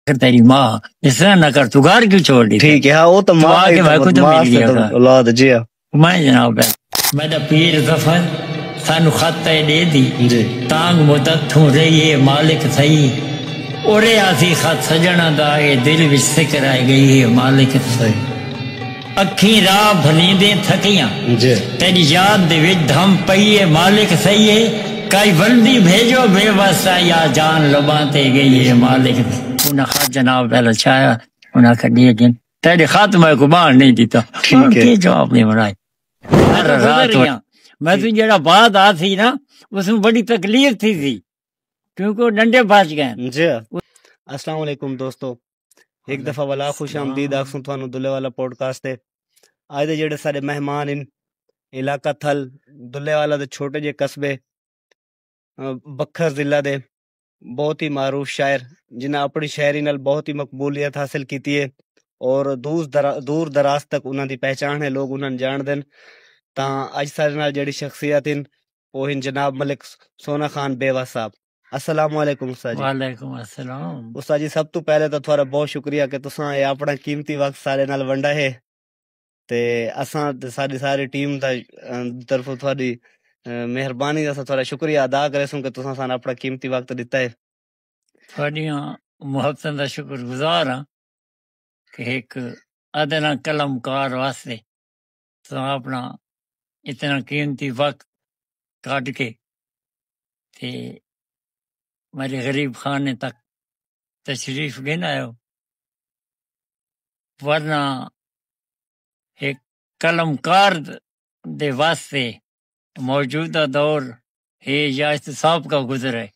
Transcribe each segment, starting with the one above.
کر تیری ماں اس طرح نہ کر تگار کیوں چھوڑ دی ٹھیک ہے ہاں وہ تو ماں کے بھائی کو تو مل گیا تھا اولاد جی ہاں۔ میں جناب ہے میں دا پیر زفر سانو خط پہ دے دی جی۔ تانگ مدت تھوں رہی ہے مالک تھئی اورے آسی خط سجنہ دا اے دل وچ سکر آئے گئی ہے مالک تھئی اکھیں راہ بھلیندیں تھکیاں۔ تیݙی یاد دے وچ دھم پئی اے مالک سئی اے کائی ولدی بھیڄو بے وس آ یا جان لباں تے ڳئی اے مالک سئی۔ انہاں خط جناب دا لچھایا انہاں آکھیا ݙے ڳن تیݙے خط میں کوئی ٻانہہ نئیں ݙتا ہݨ کے جواب ݙیوݨ آئے میں تاں گزر ڳیاں میں توں جیڑھا بعد آسی نا اوسوں وݙی تکلیف تھیسی کیونکہ او ݙنڈے بچ ڳئن۔ السلام علیکم دوستو۔ ہک دفعہ ولا خوش آمدید آکھسوں تہاݙو دلے والا پوڈ کاسٹ تے اڄ دے جیڑھے ساݙے مہمان ہن علاقہ تھل دلے والا دے چھوٹے جے قصبے بکھر ضلع دے بہت ہی معروف شاعر جنہاں اپݨی شاعری نال بہت ہی مقبولیت حاصل کیتی ہے اور دور دراز تک انہاں دی پہچاݨ ہے لوگ انہاں ڄاݨدن تاں اڄ ساݙے نال جیڑھی شخصیت ہن او ہن جناب ملک سونا خان بیوہ صاحب۔ السلام علیکم استاد جی۔ وعلیکم السلام۔ استاد جی سب توں پہلے تاں تہاڈا بہت شکریہ کہ تساں اے آپنڑاں قیمتی وقت ساڈے نال ونڈا ہے تے اساں تے ساڈی ساری ٹیم دا طرفوں تہاڈی مہربانی اساں تہاڈا شکریہ ادا کریسوں کہ تساں سانوں آپنڑاں قیمتی وقت ڈتا ہے۔ تہاڈیاں محبتاں دا شکر گزار ہاں کہ ہک ادنا قلم کار واسطے تساں اپݨا اتنا قیمتی وقت کڈھ کے تے میرے غریب خانے تک تشریف گھن آئے ہو ورنہ ایک قلم کار دے واسطے موجودہ دور ہے یا اس سے سابقہ گزر ہے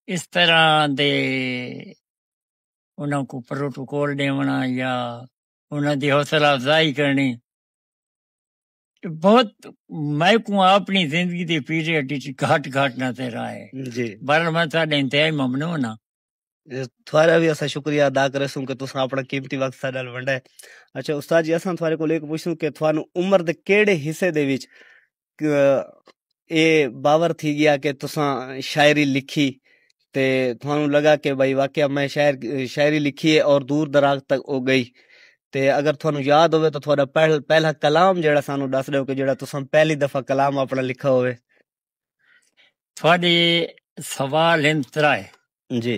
اس طرح دے انہاں کو پروٹوکول ڈیونا یا انہاں دی حوصلہ افزائی کرنی بہت میں کو اپنی زندگی دی پیریڈ وچ گھٹ گھٹ نظر آئے جی بہرحال میں تہاڈے انتہائی ممنون ہاں تھوارا بھی اسا شکریہ ادا کرے سوں کہ تساں اپنا قیمتی وقت ساڈے نال ونڈا ہے اچھا استاد جی اساں تھوارے کول ایک پوچھسوں کہ تھانو عمر دے کیڑے حصے دے وچ اے باور تھی گیا کہ تساں شاعری لکھی تے تھانوں لگا کہ بھئی واقعہ میں شاعری لکھی اے اور دور دراز تک او گئی تے اگر تھانوں یاد ہووے تاں تہاݙا پہلا کلام جیڑھا سانوں ݙس ݙیؤ کہ جیڑھا تساں پہلی دفعہ کلام آپݨا لکھا ہووے۔ تہاݙے سوال ہن ترائے۔ جی۔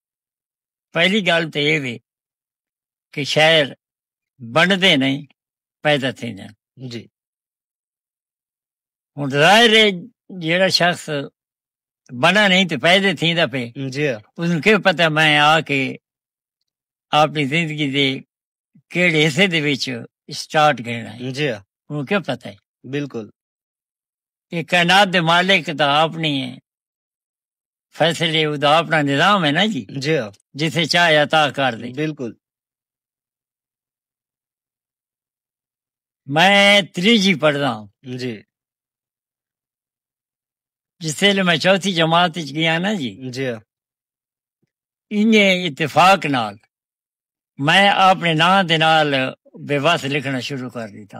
پہلی گالھ تے اے وے کہ شہر بنڈدے نہیں پیدا تھے جان جی ہوں ظاہر ہے جیڑا شخص بنا نہیں تو پیدا تھی دا پہ جی اس نے کہ پتہ میں آ کے اپنی زندگی دے کیڑے حصے دے وچ سٹارٹ کرنا ہے جی ہوں کہ پتہ ہے بالکل یہ کائنات دے مالک دا اپنی ہے فیصلے ادا اپنا نظام ہے نا جی جی ہاں۔ جتھے چاہے عطا کر دے بالکل میں تریجی پڑھدا ہوں جی جس ویلے میں چوتھی جماعت وچ گیا نا جی جی ہاں۔ انہیں اتفاق نال میں اپنے نام دے نال بے وس لکھنا شروع کر دیتا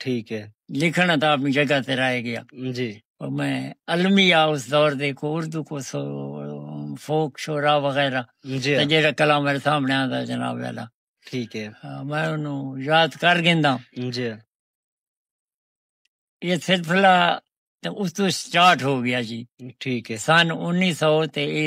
ٹھیک ہے۔ لکھن عطا اپنی جگہ تے رہ گیا۔ جی۔ اور میں المیہ اس دور دے کو اردو کو سو فوک شعرا وغیرہ جی ہاں۔ جیڑا کلام میرے سامنے آندا جناب والا۔ ٹھیک ہے۔ میں انہو یاد کر گیندا۔ جی ہاں۔ یہ سلسلہ اس تو سٹارٹ ہو گیا جی۔ ٹھیک ہے۔ سن انیس سو تے اے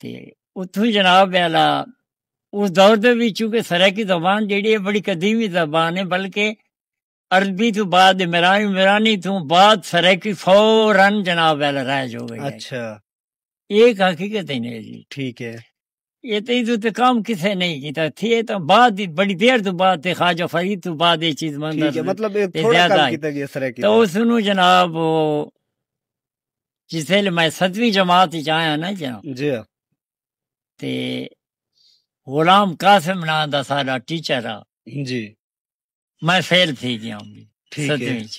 تے اتھوں جناب والا اس دور دے وچ چونکہ سرائیکی زبان جیڑی ہے بڑی قدیمی زبان ہے بلکہ عربی توں بعد عمرانی عمرانی توں بعد سرائیکی فوراً جناب والا رائج ہو گئی اچھا ایک حقیقت ہے نہیں جی ٹھیک ہے یہ تو ادھر تے کام کسے نہیں کیتا تھی تو بعد بڑی دیر تو بعد تے خواجہ فرید تو بعد یہ چیز مندر مطلب تھوڑا کام کیتا گیا سرائیکی تو اس نو جناب جسل میں ستویں جماعت وچ آیا نا جا جی تے غلام قاسم نام دا سارا ٹیچر آ جی میں فیل تھی گیا ہوں ستویں وچ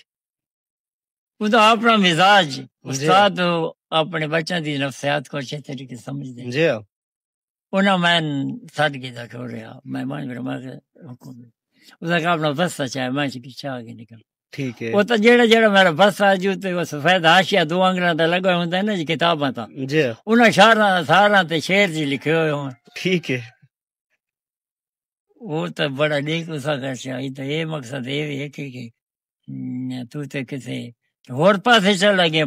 ادا اپنا مزاج استاد اپنے بچوں دی نفسیات کو اچھے طریقے سمجھ دے جی انہاں میں سد کے دا کھو رہا میں مان کر میں حکم دے اس کا اپنا بس چاہے میں چھ پیچھے آگے نکل ٹھیک ہے وہ تو جڑا جڑا میرا بس آ جو تے وہ سفید ہاشیا دو انگراں تے لگا ہوندا ہے نا جی کتاباں تا جی انہاں شہراں ساراں تے شعر جی لکھے ہوئے ہوں ٹھیک ہے او تاں بڑا ڈے کو سا کر چھا اے تاں اے مقصد اے وی اے کہ تو تے کسے ہور پاسے چل لگے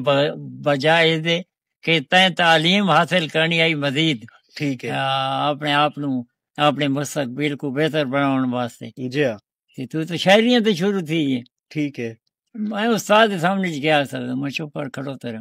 بجائے اے دے کہ تیں تعلیم حاصل کرنی آئی مزید ٹھیک ہے اپنے آپ نو اپنے مستقبل کو بہتر بناون واسطے جی ہاں کہ تو تو شاعریاں تے شروع تھی ہے ٹھیک ہے میں استاد سامنے گیا سر میں چپ کر کھڑو تیرا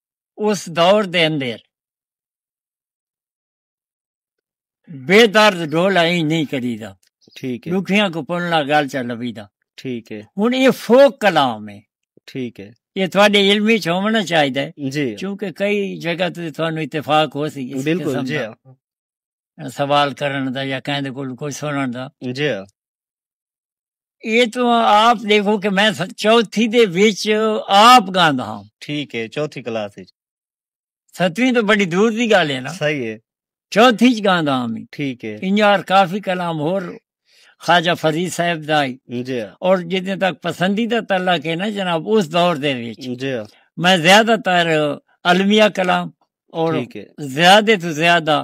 اس دور دے اندر بے درد ڈولا ہی نہیں کری دا ٹھیک ہے لکھیاں کو پنلا گل چا لبی دا ٹھیک ہے ہن یہ فوک کلام ہے ٹھیک ہے یہ تھوڑے علمی چ ہونا چاہیے جی چونکہ کئی جگہ تے تھانو اتفاق ہو سی بالکل جی سوال کرن دا یا کہیں دے کول کوئی سنن دا جی یہ تو آپ دیکھو کہ میں چوتھی دے وچ آپ گاندا ہاں ٹھیک ہے چوتھی کلاس وچ ستویں تو بڑی دور دی گل ہے نا صحیح ہے چوتھی چ گاندا ہاں میں ٹھیک ہے انجار کافی کلام ہور خواجہ فرید صاحب دا جی اور جتنے تک پسندیدہ تعلق ہے نا جناب اس دور دے وچ جی میں زیادہ تر المیہ کلام اور زیادہ تو زیادہ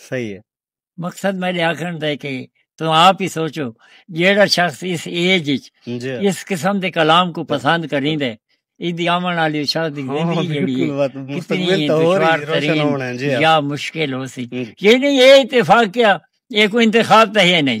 صحیح ہے۔ مقصد میڈے آکھن دا ہے کہ توں آپ ہی سوچو جیڑا شخص اس ایج اچ اس قسم دے کلام کو پسند کریں دے ایدی آمن والی اس شخص دی زندگی جیڑی ہے کتنی دشوار ترین یا مشکل ہو سی یہ نہیں یہ اتفاق کیا یہ کوئی انتخاب تہے نہیں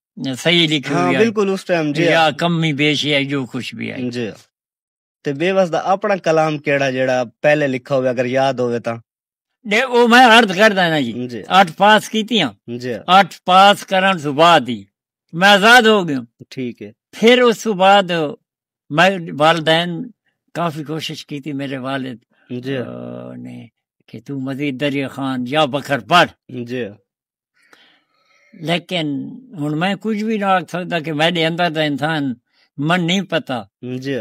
صحیح لکھی ہاں بالکل اس ٹائم جی یا کمی بیشی ہے جو کچھ بھی ہے جی تے بے وس دا اپنا کلام کیڑا جیڑا پہلے لکھا ہوئے اگر یاد ہوئے تا دے او میں عرض کر دینا جی اٹھ جی۔ پاس کیتی ہاں جی اٹھ پاس کرن سو بعد ہی میں آزاد ہو گیا ٹھیک ہے پھر اس سو بعد میں والدین کافی کوشش کیتی میرے والد جی نے کہ تو مزید دریا خان یا بکر پڑھ جی لیکن ہن میں کچھ وی نہ آکھ سکدا کہ میڈے اندر دا انسان من نی پتہ جی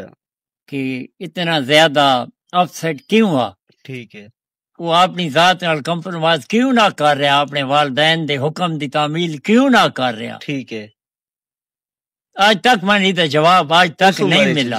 کہ اتنا زیادہ اپ سیٹ کیوں ہا ٹھیک ہے وہ اپنی ذات نال کمپرومائز کیوں نہ کر رہا اپنے والدین دے حکم دی تعمیل کیوں نہ کر رہا ٹھیک ہے آج تک میں نہیں دا جواب آج تک نہیں ملا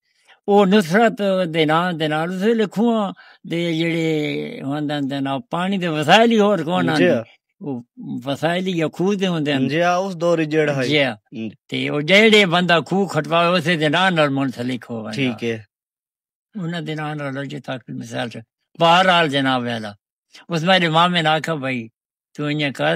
او نصرت دے ناں دے نال اس ویلے کھواں دے جڑے ہوندن دے نال پانی دے وسائل ہی ہور کون ہن او وسائل یا کھو دے ہوندے ہن جی اس دور جڑا ہے جی تے او جڑے بندہ کھو کھٹوا اس دے ناں نال منسلک ہو ویندا ٹھیک ہے انہاں دے ناں نال جو تاکہ مثال سے بہرحال جناب والا اس میرے مامے نے آکھا بھائی تو انہیں کر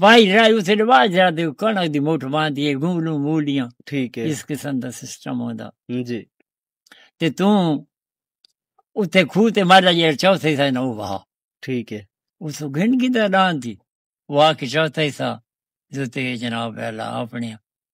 وائی رائی اسے دے واج جا دے کنگ دی موٹھ باندھی ہے گولوں مولیاں ٹھیک ہے اس قسم دا سسٹم ہوندا جی تے تو اتے کھو تے مالا جے چوتھے سا نو وہا ٹھیک ہے اس گھن کی دا دان تھی وہ آ کے چوتھے سا جو تے جناب اللہ اپنے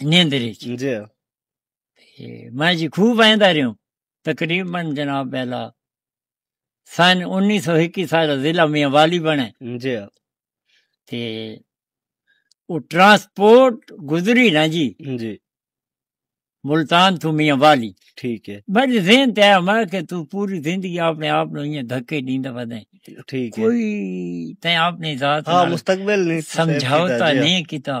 نیندر وچ جی میں جی خوب ویندا رہیوں تقریبا جناب بیلا سن انیس سو اکی سال ضلع میاں والی بنے جی تے او ٹرانسپورٹ گزری نا جی جی ملتان تو میاں والی ٹھیک ہے میرے ذہن تے آیا میں کہ تو پوری زندگی اپنے آپ نو یہ دھکے دیندا ودے ٹھیک ہے کوئی تے اپنی ذات ہاں مستقبل نہیں سمجھاوتا جی۔ نہیں کیتا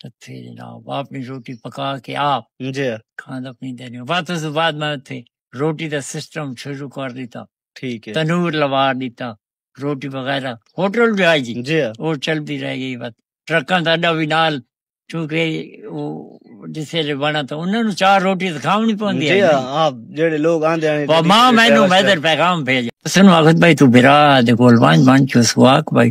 تھے جناب اپنی روٹی پکا کے آپ جی کھانا پیندے نے بات اس بعد میں تھے روٹی دا سسٹم شروع کر دیتا ٹھیک ہے تنور لوا دیتا روٹی وغیرہ ہوٹل بھی آئی جی جی وہ چل دی رہ گئی بات ٹرکاں دا اڈا بھی نال چونکہ وہ جس ویلے بنا تو انہاں نو چار روٹی کھاونی پوندی ہے جی ہاں جڑے لوگ آندے ہیں ماں مینوں میدر پیغام بھیجا سنو اخت بھائی تو برا دے کول وان مان چوس واک بھائی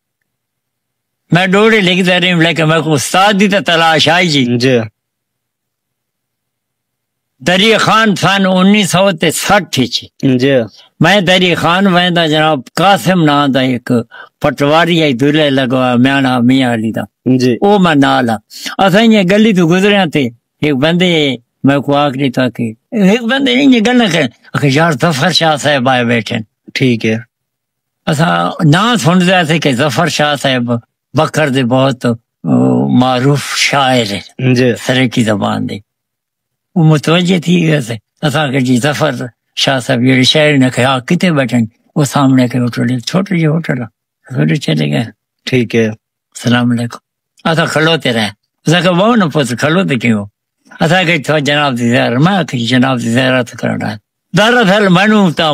میں ڈوڑے لکھ دے رہی ہوں لیکن میں کو استاد دی تا تلاش آئی جی جی دری خان سن انیس سو تے سٹھ چی جی میں دری خان ویندا جناب قاسم نا دا ایک پٹواری آئی دلے لگوا میانا میاں علی دا جی او میں نال ہاں اساں یہ گلی تو گزرے ہاں تے ایک بندے میں کو آکھ نہیں تا کہ ایک بندے نہیں یہ گلنا کہ یار ظفر شاہ صاحب آئے بیٹھے ٹھیک ہے اساں ناں سنتے آتے کہ ظفر شاہ صاحب بکر دے بہت معروف شاعر ہیں جی۔ سرکی زبان دے وہ متوجہ تھی گئے تھے اساں کہ جی ظفر شاہ صاحب یہ شاعر نے کہا ہاں، کتے بیٹھے وہ سامنے کے ہوٹل ہے چھوٹے جی ہوٹل ہے چلے گئے ٹھیک ہے السلام علیکم اسا کھلوتے رہے اسا کہ وہ نہ پوچھ کھلوتے کیوں اسا کہ جناب دی زیارت میں کہ جناب دی زیارت کرنا ہے دراصل میں نوں تاں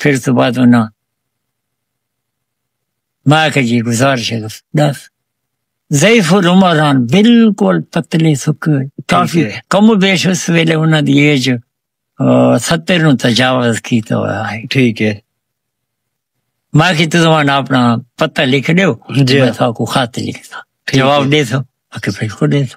پھر تو بعد انہاں میں کہ جی گزارش ہے دس ضعیف العمر ہن بالکل پتلے سکے ہوئے کافی کم و بیش اس ویلے انہاں دی ایج ستر نو تجاوز کیتا ہوا ہے ٹھیک ہے میں کہ تو زمان اپنا پتہ لکھ دیو جی میں تو کو خط لکھتا جواب دے تو اکے پھر کو دے تو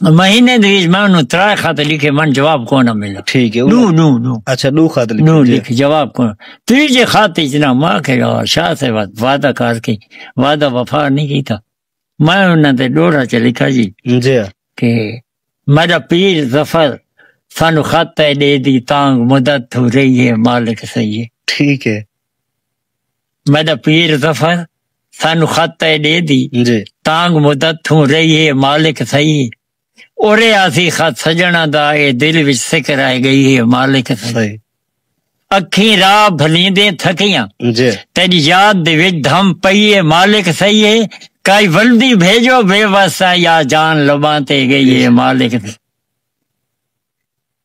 مہینے دے وچ میں انہوں ترائے خط لکھے من جواب کو نہ ملا ٹھیک ہے دو دو دو اچھا دو خط لکھے دو جی۔ لکھ جواب کو تیجے خط وچ نہ ماں کے یار شاہ سے وعد- وعدہ کر کے وعدہ وفا نہیں کیتا میں انہاں تے ڈوڑا چ لکھا جی جی کہ میرا پیر ظفر سانو خط ہے دے دی تانگ مدد ہو رہی ہے مالک سہی ہے ٹھیک ہے میڈا پیر ظفر سانو خط تے ڈے دی جی تانگ مدت تھوں رہی ہے مالک سہی اورے آسی خط سجنا دا اے دل وچ سک رہ گئی ہے مالک سہی اکھیں راہ بھلیندے تھکیاں جی تیری یاد دے وچ دھم پئی ہے مالک سہی ہے کائی ولدی بھیجو بے واسا یا جان لباں تے گئی ہے مالک سہی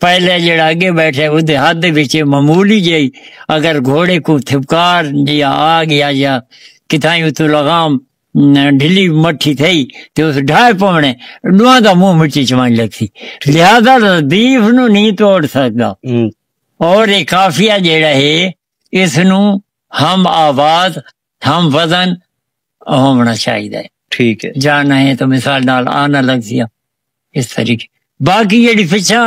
پہلے جڑا اگے بیٹھے وہ دے ہاتھ دے بچے معمولی جائی اگر گھوڑے کو تھپکار یا آگ یا یا کتھائیں اتو لغام ڈھلی مٹھی تھئی تے اس ڈھائے پونے ڈوان دا منہ مٹی چوان لگ سی لہذا ردیف نو نہیں توڑ سکتا اور ایک کافیہ جڑا ہے اس نو ہم آواز ہم وزن ہونا چاہیے ٹھیک ہے جا نہیں تو مثال نال آنا لگ سیا اس طریقے باقی جڑی پچھا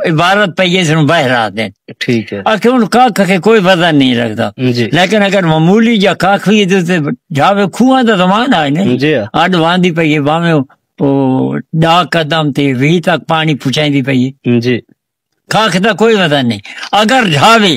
عبارت پہ یہ سن باہر آ دیں ٹھیک ہے اکھے ان کا کہ کوئی وزن نہیں رکھتا جی۔ لیکن اگر معمولی یا کاک ہوئی تو تے جاوے کھواں دا زمان آئے نہیں جی۔ اڈ واندی پہ یہ باویں او ڈا قدم تے وی تک پانی پچھائیں دی پہ یہ جی۔ کاک دا کوئی وزن نہیں اگر جاوے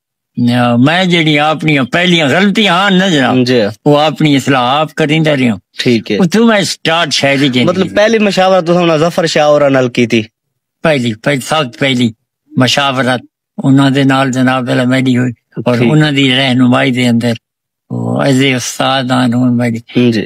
میں جڑی اپنی پہلی غلطی ہاں نہ جناب جی وہ اپنی اصلاح آپ کریندا رہیا ٹھیک ہے تو میں سٹارٹ شاعری جی مطلب پہلی مشاورت تو انہاں ظفر شاہ اور نال کیتی پہلی پہلی سخت پہلی مشاورت انہاں دے نال جناب والا میڈی ہوئی اور انہاں دی رہنمائی دے اندر وہ ایز اے استاد ہن میڈی جی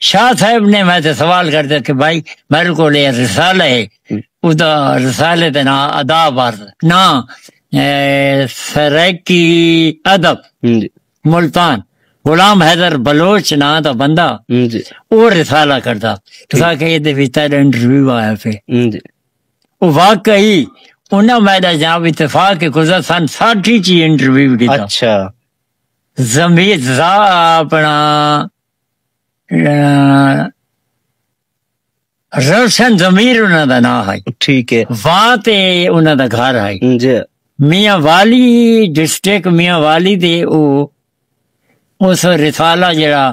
شاہ صاحب نے میں تے سوال کر دیا کہ بھائی میرے کو لے رسالہ ہے اس دا رسالے دے نام ادا بار نا سرکی ادب جی۔ ملتان غلام حیدر بلوچ نا دا بندہ جی۔ او رسالہ کردا تسا کہ یہ دے بھی تیرے انٹرویو آیا پھے جی۔ او واقعی انہاں میں دا جناب اتفاق کے گزر سن ساٹھی چی انٹرویو دیتا اچھا زمیر زا اپنا روشن ضمیر انہاں دا نام ہے ٹھیک ہے وہاں تے انہاں دا گھر ہے جی میاں والی ڈسٹرکٹ میاں والی دے او اس رسالہ جڑا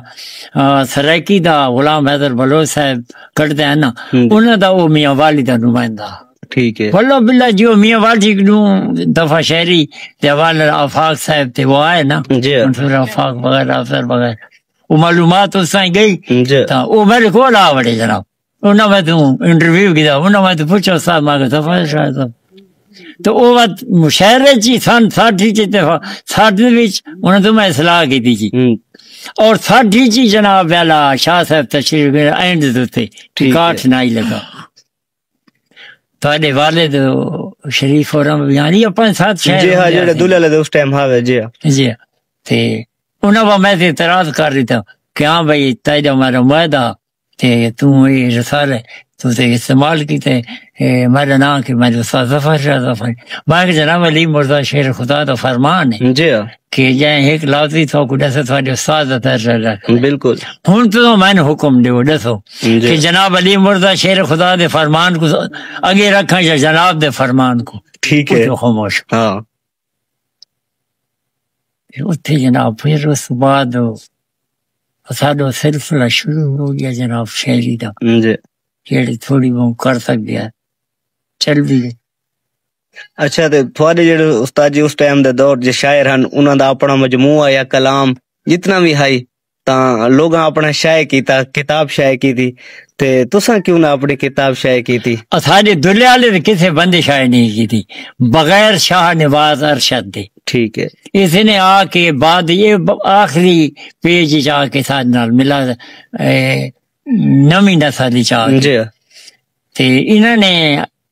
سرائیکی دا غلام حیدر بلوچ صاحب کٹدا ہے نا انہاں دا او میاں والی دا نمائندہ ٹھیک ہے بلو بلا جی او میاں واجی نو دفعہ شہری تے حوال آفاق صاحب تے وہ آئے نا جی منصور آفاق وغیرہ افسر وغیرہ وہ معلومات اس تائیں گئی جی تا او میرے کو لا وڑے جناب انہاں میں تو انٹرویو کیتا انہاں میں تو پوچھا استاد ماں کے دفعہ شاید تو او وقت مشہرے چی سن ساٹھی چی تے ساٹھی وچ انہاں تو میں اصلاح کیتی چی اور ساٹھی چی جناب والا شاہ صاحب تشریف اینڈ دوتے کاٹھ نہ ہی لگا تہاڈے والد شریف اور یعنی اپنے ساتھ شہر جی ہاں جڑے دلہ لے اس ٹائم ہاں جی ہاں۔ جی ہاں۔ تے انہاں وا میں تے اعتراض کر دیتا کہ ہاں بھائی تیرا میرا معاہدہ تے تو یہ رسالہ تو تے استعمال کیتے میرا نام کہ میں استاد ظفر شاہ ظفر میں کہ جناب علی مرزا شیر خدا دا فرمان ہے جی ہاں۔ کہ جائیں ہک لاتری تھو کو ڈسو تھو جو ساز دا فیصلہ دا بالکل ہن تو میں حکم دیو ڈسو جی۔ کہ جناب علی مرزا شیر خدا دے فرمان کو اگے رکھا یا جناب دے فرمان کو ٹھیک ہے خاموش ہاں اتھے جناب پھر اس بعد ساڈو سلسلہ شروع ہو گیا جناب شہری دا جی۔ جیڑی تھوڑی بہت کر سکدے چل بھی گئے اچھا تے تھوڑے جڑے استاد جی اس ٹائم دے دور جے شاعر ہن انہاں دا اپنا مجموعہ یا کلام جتنا بھی ہائی تاں لوگاں اپنا شائع کیتا کتاب شائع کیتی تے تساں کیوں نہ اپنی کتاب شائع کیتی اساڈے دلے والے تے کسے بندے شائع نہیں کیتی بغیر شاہ نواز ارشد دے ٹھیک ہے اس نے آ کے بعد یہ آخری پیج جا کے ساتھ نال ملا نویں نسل چاہ جی تے انہاں نے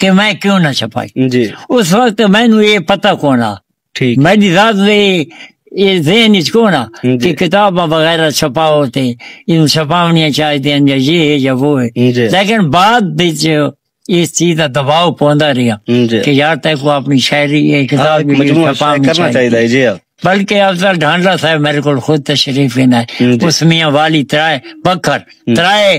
کہ میں کیوں نہ چھپائی جی اس وقت میں نو یہ پتہ کونا ٹھیک میں دی ذات دے یہ ذہن اچ کونا جی۔ کہ کتاب وغیرہ چھپاؤ تے ان چھپاونیاں چاہیے ہیں یا یہ ہے یا وہ ہے جی۔ لیکن بعد وچ اس چیز دا دباؤ پوندا رہیا جی۔ کہ یار تے کو اپنی شاعری ہے کتاب بھی مجموعہ شائع چھپاونی کرنا چاہیے چاہیے ہے جی ہاں۔ بلکہ افضل ڈھانڈا صاحب میرے کول خود تشریف لینا ہے جی۔ اس میاں والی ترائے بکھر ترائے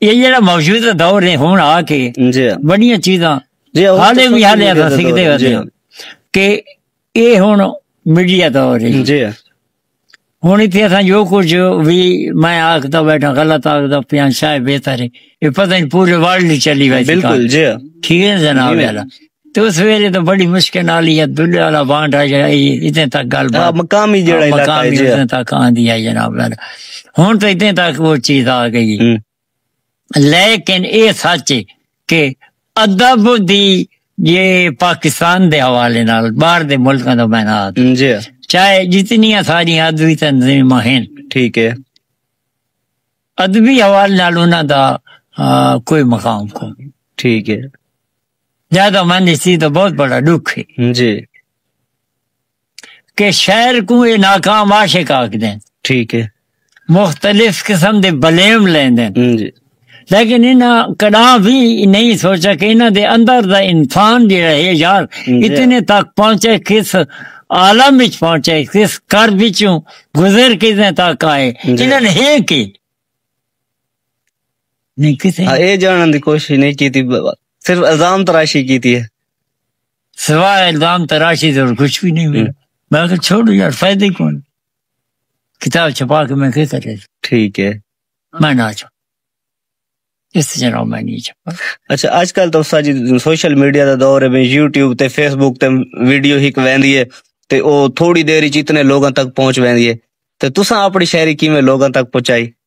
یہ جڑا موجودہ دور ہے ہن آ کے جی بڑیاں چیزاں جی حالے بھی حالے اساں سکھدے ہوندے جی۔ کہ اے ہن میڈیا دور ہے جی ہن ایتھے اساں جو کچھ بھی میں آکھدا بیٹھا غلط آکھدا پیاں شاید بہتر ہے اے پتہ نہیں پورے ورلڈ چلی ویسی بالکل جی ٹھیک ہے جناب جی۔ تو اس ویلے تو بڑی مشکل نال یہ دلے والا بانڈ آ جائے اتنے تک گل بات مقامی جڑا ہاں، علاقہ ہے جی اتنے تک آن دیا جناب لال ہن تو اتنے تک وہ چیز آ گئی لیکن اے سچ ہے کہ ادب دی یہ پاکستان دے حوالے نال باہر دے ملکاں دا میں نہ جی چاہے جتنی ساری ادبی تنظیم ہیں ٹھیک ہے ادبی حوالے نال انہاں دا کوئی مقام کو ٹھیک ہے جہدا من اسی تو بہت بڑا ڈکھ ہے جی کہ شہر کو یہ ناکام عاشق آکھ دیں ٹھیک ہے مختلف قسم دے بلیم لیں دیں جی لیکن انہاں کدا بھی نہیں سوچا کہ انہاں دے اندر دا انسان جی رہے یار اتنے تک پہنچے کس عالم وچ پہنچے کس کر وچوں گزر کس نے تک آئے انہاں نے ہے کہ ہاں، اے جانڑن دی کوشش نئیں کیتی صرف الزام تراشی کیتی ہے سوائے الزام تراشی تو کچھ بھی نہیں ملا میں کہ چھوڑ یار فائدہ ہی کون کتاب چھپا کے میں کہ کرے ٹھیک ہے میں نہ چھوڑ اس جناب میں نہیں چھپا اچھا اج کل تو ساجی سوشل میڈیا دا دور ہے یوٹیوب تے فیس بک تے ویڈیو ہک ویندی ہے تے او تھوڑی دیر وچ اتنے لوگاں تک پہنچ ویندی ہے تے تساں اپنی شاعری کیویں لوگاں تک پہنچائی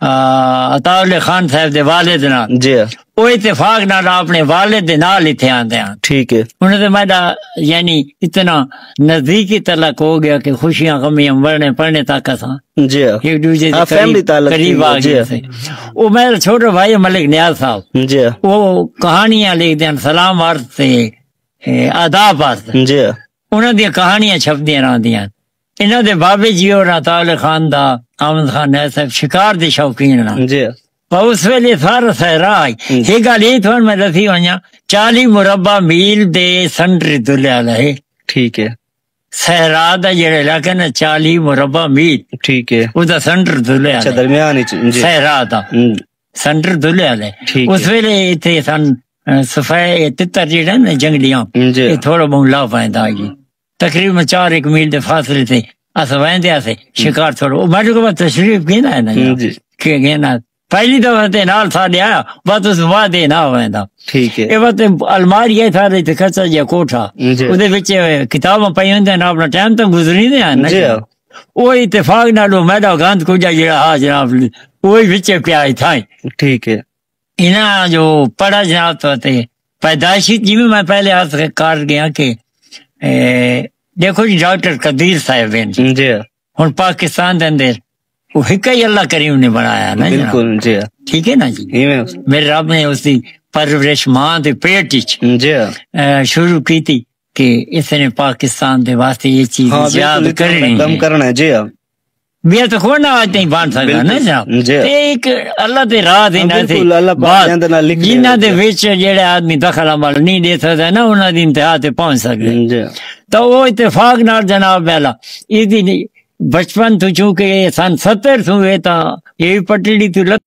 عطاء اللہ خان صاحب دے والد نال جی او اتفاق نال اپنے والد دے نال ایتھے آندے ہن ٹھیک ہے انہاں دے میڈا یعنی اتنا نزدیکی تعلق ہو گیا کہ خوشیاں غمیاں مرنے پڑھنے تک اساں جی ایک دوسرے دے فیملی تعلق قریب آ گئے تھے او میرا چھوٹا بھائی ملک نیاز صاحب جی او کہانیاں لکھ دین سلام عرض تے آداب عرض جی انہاں دی کہانیاں چھپ دیاں رہندیاں انہاں دے بابے جی اور عطا اللہ خان دا آمد خان نائے صاحب شکار دے شوقین ہنا جی پر اس ویلے سارا سہرا آئی یہ گال یہ تھوڑا میں دسی ہوئیاں چالی مربع میل دے سنڈری دلے آلا ہے ٹھیک ہے سہرا دا جڑے علاقہ نا چالی مربع میل ٹھیک ہے او دا سنڈر دلے آلا اچھا درمیان جی۔ سہرا دا سنڈر دلے آلا ہے اس ویلے اتھے سن سفائے تتر جڑے نا جنگلیاں جی۔ تھوڑا بہن لا پائیں دا جی تقریبا چار ایک میل دے فاصلے تے اسا ویندے اسے شکار چھوڑو او میڈو کو تشریف گینا ہے نا جی, جی۔ کہ گینا پہلی دفعہ تے نال تھا دے آیا بعد اس بعد دے نہ ویندا ٹھیک ہے اے وقت الماری ہے تھا دے تے کچا جی کوٹھا جی۔ اودے وچ کتاباں پئی ہوندے ہیں اپنا ٹائم تو گزری دے ہیں نا جی او اتفاق نال میڈا گند کو جا جڑا ہا جناب اوہی وچ پیا تھا ٹھیک ہے انہاں جو پڑھا جناب تو تے پیدائشی جی میں میں پہلے عرض کر گیا کہ دیکھو جی ڈاکٹر قدیر صاحب ہیں جی, جی۔ ہن پاکستان دے اندر وہ ہک ہی اللہ کریم نے بنایا نا جی۔ بالکل جی ٹھیک ہے نا جی میرے رب نے اس دی پرورش ماں دے پیٹ وچ جی۔ شروع کی تھی کہ اس نے پاکستان دے واسطے یہ چیز ہاں، یاد کرنی ہے کرنا جی بیا تو کوئی نہ آج تھی بان سکتا ہے نا جی۔ ایک اللہ دے راہ دے نہ تھی بات جنہ دے ویچ جیڑے آدمی دخل عمل نہیں دے سکتا ہے نا انہ دی انتہا تے پہنچ سکتا ہے جی۔ تو وہ اتفاق نہ جناب بیلا ایدی بچپن تو چونکہ سن ستر سوئے تا یہ پٹڑی تو لگ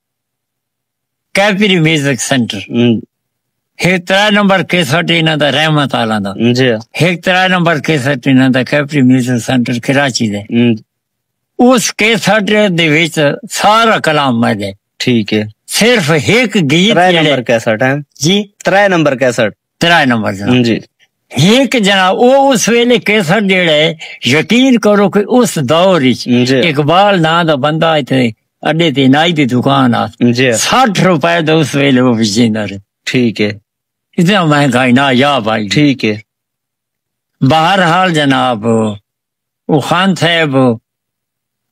کیپری میوزک سینٹر ہک ترا نمبر کیسٹ انہاں دا رحمت آلا دا جی ہک ترا نمبر کیسٹ انہاں دا کیپری میوزک سینٹر کراچی دے اس کیسٹ دے وچ سارا کلام میں دے ٹھیک ہے صرف ہک گیت ترا نمبر کیسٹ ہے جی ترا نمبر کیسٹ ترائے نمبر جناب جی ہیک جناب او اس ویلے کیسر جیڑا ہے یقین کرو کہ اس دور وچ جی۔ اقبال ناں دا بندہ ایتھے اڈے تے نائی دی دکان آ جی 60 روپے دا اس ویلے وہ وچیندا رہے ٹھیک ہے اتنا مہنگا ہی نہ یا بھائی ٹھیک ہے بہرحال جناب او خان صاحب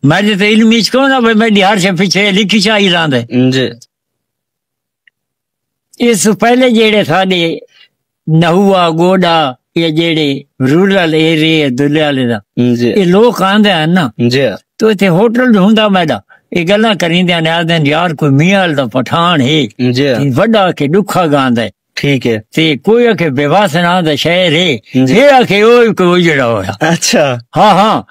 میں تے علم وچ کون نہ بھائی میں ہر شے پیچھے لکھی چاہی رہندا ہے جی اس توں پہلے جیہڑے ساڈے نہوا گوڈا یا جیہڑے رورل ایریا دلے والے دا جی۔ اے لوگ آندے ہیں نا جی تو ایتھے ہوٹل ڈھونڈا میڈا اے گلاں کریندے ہیں آندے ہیں یار کوئی میاں دا پٹھان ہے جی تے وڈا کے ڈکھا گاندا ہے ٹھیک ہے تے کوئی آکھے بیواس نا دا شہر ہے جی۔ یہ آکھے او کوئی جڑا ہویا اچھا ہاں ہاں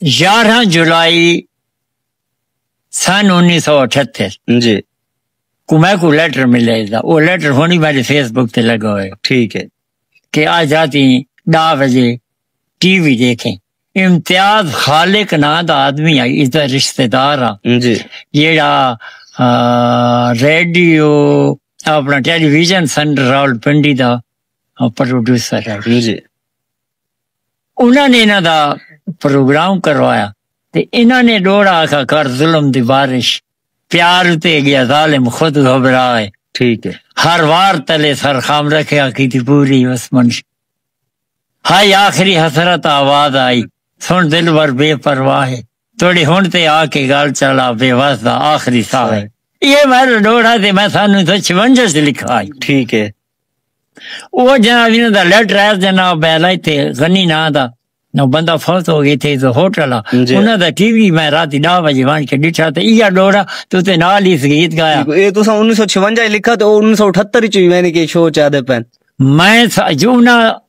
یارہاں جولائی سن انیس سو اٹھتر جی کو میں کو لیٹر ملے دا وہ لیٹر ہونی میرے فیس بک تے لگا ہوئے ٹھیک ہے کہ آج رات ڈا بجے ٹی وی دیکھیں امتیاز خالق نا دا آدمی آئی اس دا رشتہ دار ہاں جی جیڑا ریڈیو اپنا television centre Rawalpindi دا پروڈیوسر ہے جی انہاں نے انہاں دا پروگرام کروایا تے انہاں نے ڈوڑا آخا کر ظلم دی بارش پیار تے گیا ظالم خود گھبرا ہے ٹھیک ہے ہر وار تلے سر خام رکھے آخی تھی پوری اس منش ہائی آخری حسرت آواز آئی سن دل بر بے پرواہ ہے تہاݙی ہݨ تے آ کے ڳالھ چالا بے وس دا آخری ساہ ہے ایہے وائرل ݙوہڑا تے میں سانوں توں چھونجھے اچ لکھا ہئی ٹھیک ہے او جناب انہاں دا لیٹر ہے جناب بیلا تے غنی نا دا نو بندہ فوت ہو گئی تھے تو ہوٹل انہاں دا ٹی وی میں رات دا وجے وان کے ڈٹھا تے ایہا ڈوڑا تو تے نال اس گیت گایا اے تو سا 1956 لکھا تے 1978 چوی میں نے کہ شو چا دے پین میں جو انہاں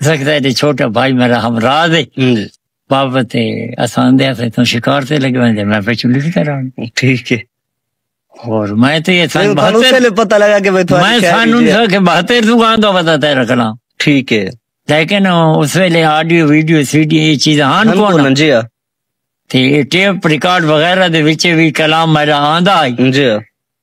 سکتا ہے چھوٹا بھائی میرا ہمراہ دے بابا تے اسان دے ہتھے تو شکار تے لگے ہوئے میں پچھو لکھ کر آن ٹھیک ہے اور میں تو یہ سان بہتر پتہ لگا کہ میں سان ان سا کہ بہتر تو گاں دو بتا تے رکھنا ٹھیک ہے لیکن اس ویلے آڈیو ویڈیو سی ڈی یہ چیز ہان کون جی ہاں۔ تے ٹیپ ریکارڈ وغیرہ دے وچے بھی کلام میرا آندا آئی جی ہاں۔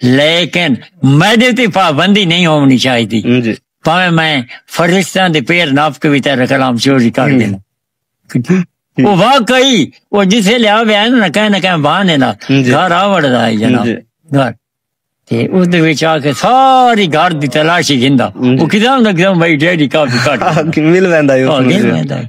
لیکن میڈے تے پابندی نہیں ہونی چاہیے جی۔ پاویں میں فرشتہ دے پیر ناپ کے بھی تیرا کلام چوری کر دینا وہ واقعی وہ جسے لیا بھی آئے نا کہیں نہ کہیں بہانے نا جی۔ گھر آوڑ دا ہے جناب جی۔ گھر تے اس دے وچ آ کے ساری گھر دی تلاشی گھندا جی۔ وہ کدام نہ کدام بھائی ڈیڈی کافی کٹ مل ویندا ہے مل ویندا ہے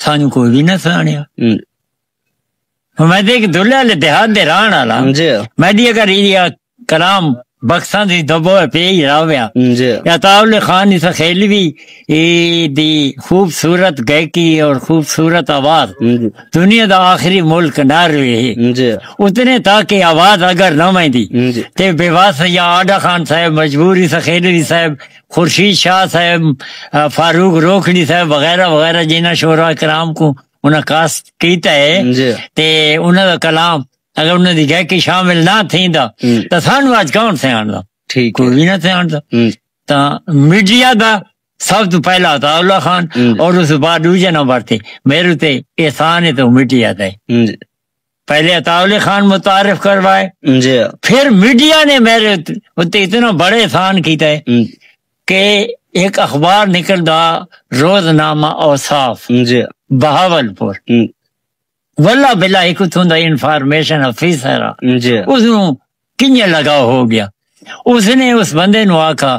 سانو کوئی بھی نہ سانیا میں دیکھ دلیا لے دیہات دے ران والا جی میں دی اگر یہ کلام بخشاں دی دبو ہے پی ہی راویا جی یا تاول خان اس خیل بھی اے دی خوبصورت گائکی اور خوبصورت آواز دنیا دا آخری ملک نہ رہے جی اتنے تاکہ آواز اگر نہ میں دی تے بیواس یا آڈا خان صاحب مجبوری سخیل بھی صاحب خورشید شاہ صاحب، فاروق روکھڑی صاحب وغیرہ وغیرہ جنہاں شعراء کرام کوں انہاں کاسٹ کیتا ہے تے انہاں دا کلام اگر انہاں دی گائیکی شامل نہ تھیندا تاں سانوں اج کون سیانڑدا کوئی وی نہ سیانڑدا تاں میڈیا دا سب توں پہلا عطاء اللہ خان اور اس بعد دوجھے نمبر تے میرے تے احسان ہے تے او میڈیا دا ہے۔ پہلے عطا علی خان متعارف کروائے جی پھر میڈیا نے میرے اتنے اتنا بڑے احسان کیتا ہے کہ ایک اخبار نکل دا روز نامہ اوصاف جی بہاول پور ولا بلا ایک اتوں دا انفارمیشن آفیسر جی اس کنیا لگا ہو گیا اس نے اس بندے نو آکھا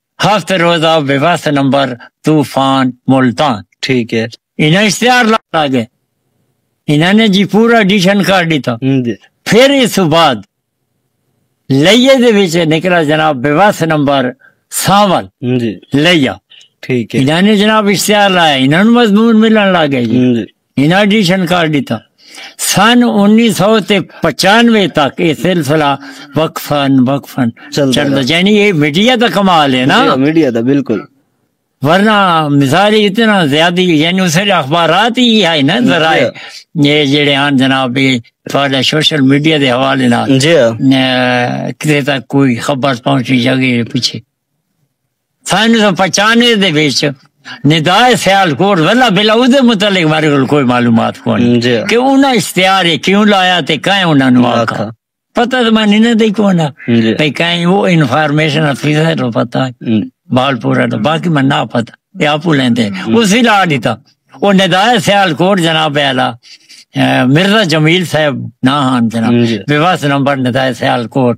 ہفتے روزہ بے وس نمبر طوفان ملتان ٹھیک ہے انہاں اشتہار لا گئے انہاں نے جی پورا ایڈیشن کر دیتا جی۔ پھر اس بعد لئیے دے وچ نکلا جناب بے وس نمبر سانول جی۔ لئیا ٹھیک ہے انہاں نے جناب اشتہار لایا انہاں نے مضمون ملن لا گئے جی۔ انہاں ایڈیشن کر ڈیتا سن انیس سو تے پچانوے تک یہ سلسلہ وقفن وقفن چلتا یعنی یہ میڈیا دا کمال ہے نا میڈیا دا بالکل ورنہ مثال اتنا زیادہ یعنی اس نے اخبارات ہی ہے نا ذرائع یہ جڑے ہیں جناب تھوڑا سوشل میڈیا دے حوالے نال جی کتے تک کوئی خبر پہنچی جگہ پیچھے سن سو پچانوے دے وچ ندائے سیال کوٹ ولا بلا او دے متعلق بارے کول کوئی معلومات کون جی۔ کہ انہاں اشتہار ہے کیوں لایا تے کہیں انہاں نو آکھا آکھا۔ پتہ تو میں نہیں دے کون ہے جی۔ بھئی کہیں وہ انفارمیشن افیسر رو پتہ ہے ہم۔ بال پورا تو باقی میں نہ پتہ یہ آپ لیندے ہم۔ اس ہی لا دیتا وہ ندائے سیال کوٹ جناب اعلی اے، مرزا جمیل صاحب نہ ہن جناب جی۔ بے واس نمبر ندائے سیال کوٹ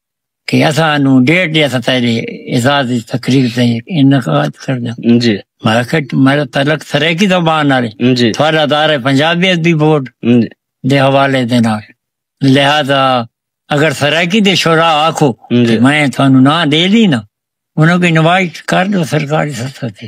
کہ اساں نو ڈیٹ دے اساں تیرے اعزاز دی تقریر تے انعقاد کرنا جی میں کہ میرا تعلق سرائیکی زبان نال جی تھوڑا دار ہے پنجابی ادبی بورڈ جی دے حوالے دے نال لہذا اگر سرائیکی دے شورا آکھو جی میں تھانو نہ دے دی نا انہاں کو انوائٹ کر دو سرکاری سطح تے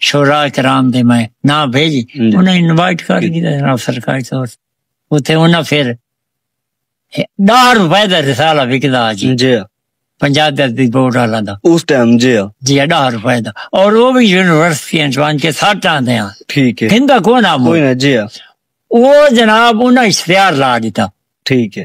شورا کرام دے میں نہ بھیج انہاں انوائٹ کر گیا جناب سرکاری طور اتھے انہاں پھر ڈار روپے دا رسالہ وکدا جی جی پنجاب دے دی بورڈ والا دا اس ٹائم جی جی ڈار روپے دا اور وہ بھی یونیورسٹی انجوان کے ساتھ آندے ہیں ٹھیک ہے ہندا کون آمو کوئی نہ جی وہ جناب انہاں اشتہار لا دیتا ٹھیک ہے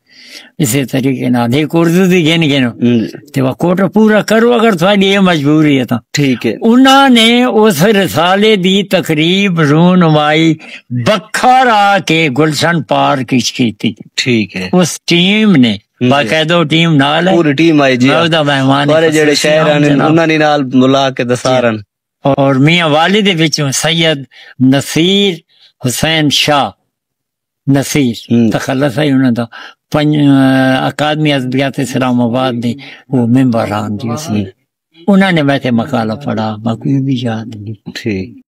اسی طریقے نہ دے کورد دی گن گن تے وہ کوٹ پورا کرو اگر تھوڑی یہ مجبوری ہے تاں ٹھیک ہے انہاں نے اس رسالے دی تقریب رونمائی بکھر آ کے گلشن پارک اچ کیتی ٹھیک ہے اس ٹیم نے باقاعدہ ٹیم نال ہے پوری ٹیم آئی جی میں دا مہمان سارے جڑے شہر ہیں انہاں نے نال ملا کے دسارن اور میاں والد وچوں سید نصیر حسین شاہ نصیر تخلص ہے انہاں دا پنج اکادمی ادبیات اسلام آباد دے وہ ممبر ہان جی اسی انہاں نے میں تے مقالہ پڑھا میں کوئی بھی یاد نہیں ٹھیک